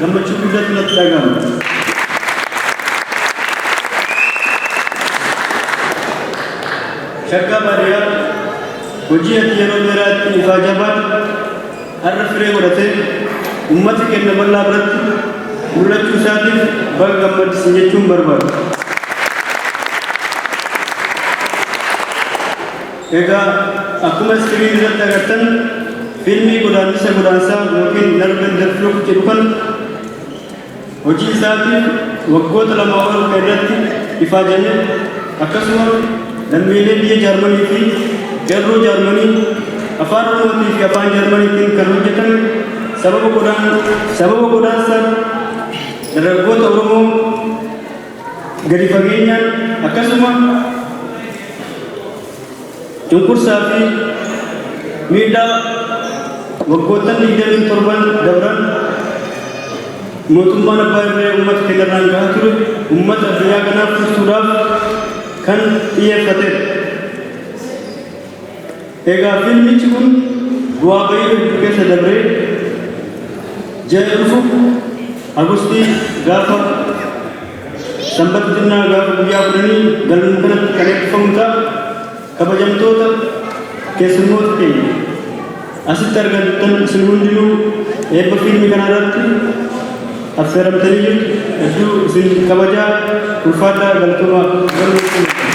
Gammachuu guddatu natti dhaga'ama. Shaggaa baadiyyaa hojii ati yeroo dheeraa itti ifaa jabaan har'a firee godhatee uummata kenna bal'aa biratti mul'achuu isaatiif baga gammaddisi jechuun barbaada. Egaa akkuma iskiriinii irratti agartan fiilmii godaannisa godaansaa ykn Nerven der Flucht jedhu kana hojii isaatiin waggoota lamaa ol kan irratti ifaajame akkasuma lammiilee biyya Jaarmanii fi qeerroo Jaarmanii afaan Oromootii fi afaan Jaarmaniitiin kan hojjetame sababa godaan sababa godaansa dargaggoota Oromoo gadi fageenyaan akkasuma cunqursaa fi miidhaa waggoottan 27 dabran mootummaan abbaa irree uummata keenya irraan gahaa ture uummata addunyaa kanaaf tursuudhaaf kan xiyyeeffatedha. Egaa fiilmichi kun bu'aa ba'ii hedduu keessa dabree ji'a dhufu Agustii gaafa Sanbata xinnaa gaafa guyyaa kudhanii galma kanatti kan eebbifamu ta'a. Kabajamtoota keessummoota keenya asitti argamtan isin hundinuu eebba fiilmii kanarratti Affeeramtanii jirtu hedduu isin kabajaa ulfaadhaa galatomaa.